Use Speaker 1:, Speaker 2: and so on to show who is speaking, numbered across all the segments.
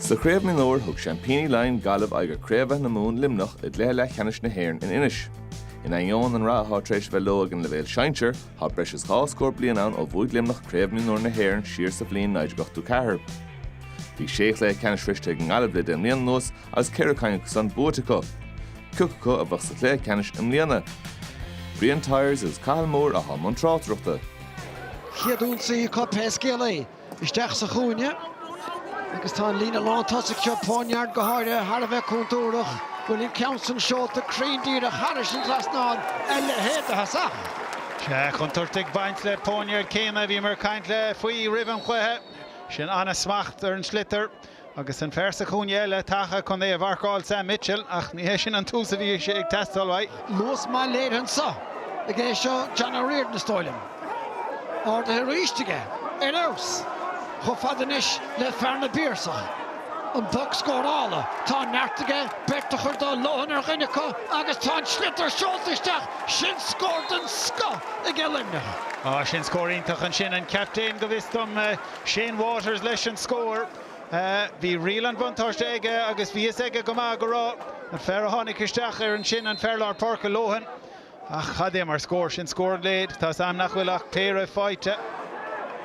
Speaker 1: Sa chraobh mionúir thug Seaimpíní Laighean Gaillimh aghaidh ar Craobh Aith na Mumhan Luimneach i gcluiche leathcheannais na hÉireann in Inis. In ainneoin an rath atá tar éis bheith leo ag an leibhéal sinsir, tá breis is dhá scór bliain ann ó bhuaigh Luimneach Craobh Mionúir na hÉireann siar sa bhliain 1984. Bhí sé chluiche ceannais sroiste ag an nGaillimh le deich mbliana anuas is ceithre cinn acu san buaite acu, ciacu acu a bheadh sa chluiche ceannais i mbliana, Brian Tyers agus Cathal Moore atá i mbun tráchtaireachta. chéad
Speaker 2: ionsaí acu pé scéal é, isteach sa chúinne agus tá an líne lántosaigh seo, Poniard go háirithe, thar a bheith contúrthach. Bhuel, an ceann san seolta cruinn díreach thairis an trasnán, a leithéid de thosach! Sea, contúirt
Speaker 3: ag baint le Poniard céanna, bhíomar ag caint le faoi roimh an chluiche, sin an-smacht ar an sliotar. Agus an fear sa chúinne eile tagtha chun é a mharcáil, Sam Mitchell, ach ní hé sin an tús a bhí sé ag teastáil uaidh. Luas maith
Speaker 2: léirithe anseo aige seo John O'Riordan, is dóigh liom. Ardaithe arís aige. Ar fheabhas. Chomh fada anois le fear na bPiarsach. An poc scórála. Tá an neart aige beirt a chur do, Lohan ar dhuine acu agus tá an sliotar seolta isteach. Sin scór den scoth aige Luimneach. Á, sin scór iontach
Speaker 3: ansin. An captaen, go bhfios dom. Shane Waters leis an scór. Bhí riail an bhuntáiste aige agus bhí fhios aige go maith go raibh an fear a tháinig isteach air ansin an fear lár páirce Lohan ach cad é mar scór sin scór an lae. Tá's a'm nach bhfuil ach péire faighte.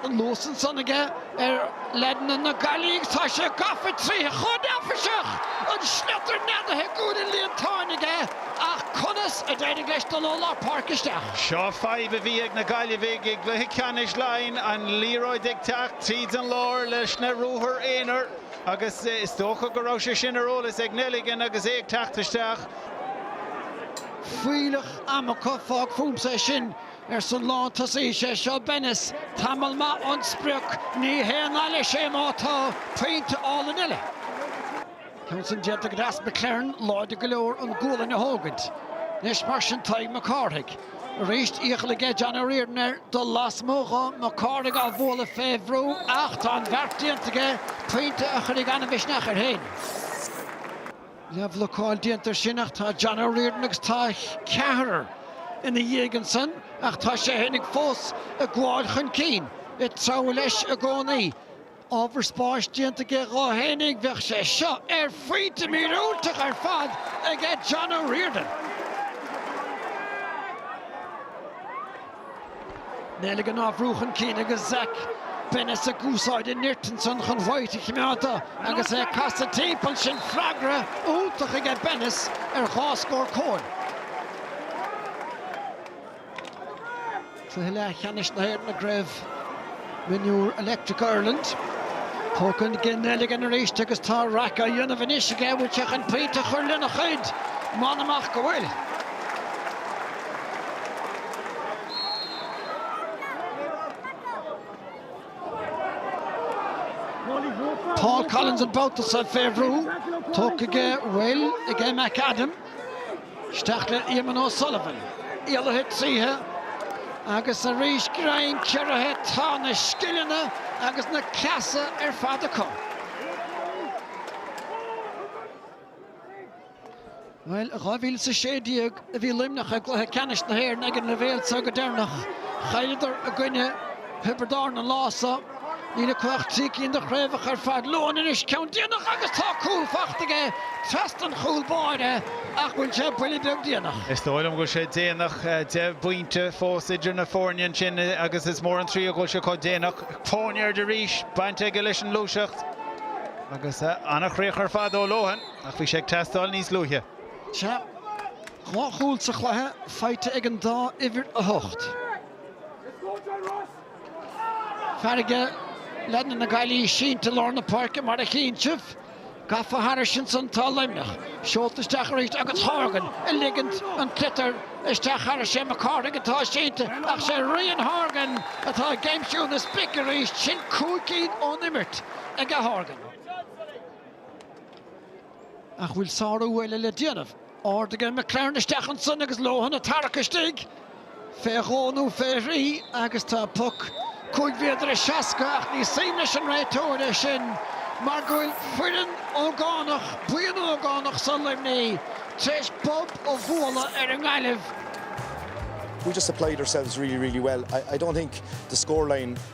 Speaker 2: An luas ansan aige ar leaideanna na Gaillimhe agus tá sé gafa tríothu chomh neafaiseach! An sliotar neadaithe i gcúl an líontáin aige. Ach conas a d'éirigh leis dul ó lár páirce isteach? Seo fadhb a bhí
Speaker 3: ag na Gaillimhigh i gcluiche ceannais Laighean, an liathróid ag teacht tríd an lár leis na ruathair aonair agus is dócha go raibh sé sin ar eolas ag Nelligan agus é ag teacht isteach.
Speaker 2: Fuílleach ama acu, fág fúmsa é sin, arsa an lán tosaí. Is é seo Bennis, tamall maith ón sprioc. Ní haon nath leis é má tá pointe álainn eile. Ceann san déanta go deas, McClearn láidir go leor an gualainn a thógaint. Anois mar sin Tadhg Mac Cárthaigh. Arís iachall aige John O'Riordan air dul lasmuigh dho, Mac Cárthaigh á bhualadh fé bhrú ach tá an bheart déanta aige, pointe a chuirfidh an-mhisneach air féin. Leathbhlocáil déanta air sin ach tá John O'Riordan agus tá ceathrar ina dhiaidh ansan ach tá sé fhéinig fós ag gabháil chun cinn, ag treabhadh leis i gcónaí. Ábhar spáis déanta aige dhá fhéinig, bheadh sé seo ar phointe míorúilteach ar fad aige John O'Riordan. Nelligan á bhrú chun cinn agus Zach Bennis ag úsáid a nirt ansan chun White a chimeád uaidh agus é ag casadh timpeall, sin freagra iontach aige Bennis ar dhá scór Coen. Cluiche leathcheannais na hÉireann i gCraobh Mionúr Electric Ireland. Tógtha ag Gene Nelligan arís agus tá raic á dhéanamh anois aige an bhfuil sé chun pointe a chur lena chuid. M'anam ach go bhfuil. Paul Collins an babhta seo fé bhrú. Tógtha aige, bhuel, ag McAdam. Isteach le Eamonn O'Sullivan. Éalaithe tríothu agus arís greim ciorraithe. Tá na scileanna agus na cleasa ar fad acu. Bhuel, i 2016 a bhí Luimneach i gcluiche ceannais na hÉireann ag an leibhéal seo go deireanach. Chailleadar i gcoinne Thiobraid Árann an lá san. Níl acu ach trí cinn de chraobhacha ar fad Lohan anois, ceann déanach agus tá cúl faighte aige trasna an chúl báire ach bhfuil sé buille beag déanach. Is dóigh liom go bhfuil sé
Speaker 3: déanach, deich bpointe fós idir na foirne ansin agus is mór an trua go bhfuil sé chomh déanach. Poniard arís baint aige leis an ngluaiseacht agus an-chríoch ar fad ó Lohan ach bhí sé ag teastáil níos luaithe. Sea,
Speaker 2: dhá chúl sa chluiche faighte ag an dá uimhir a hocht. Fear de leaideanna na Gaillimhe sínte lár na páirce mar a chíonn sibh. Gafa thairis ansan tá Luimneach. Seolta isteach arís agus Horgan ag ligint an tsliotair isteach thairis. Sé Mac Cárthaigh atá sínte ach sé Ryan Horgan atá ag aimsiú na sprice arís. Sin cúig cinn ón imirt aige Horgan. Ach bhfuil sárú eile le déanamh? Ardaithe aige McLaren isteach ansin agus Lohan ag tarrac istigh fé dhó nó fé thrí agus tá poc cúig mhéadar is seasca ach ní suim leis an réiteoir é sin mar go bhfuil foireann ógánach, buíon ógánach so Luimnigh tréis bob a bhualadh ar an nGaillimh.
Speaker 4: We just applied ourselves really, really well. I don't think the scoreline.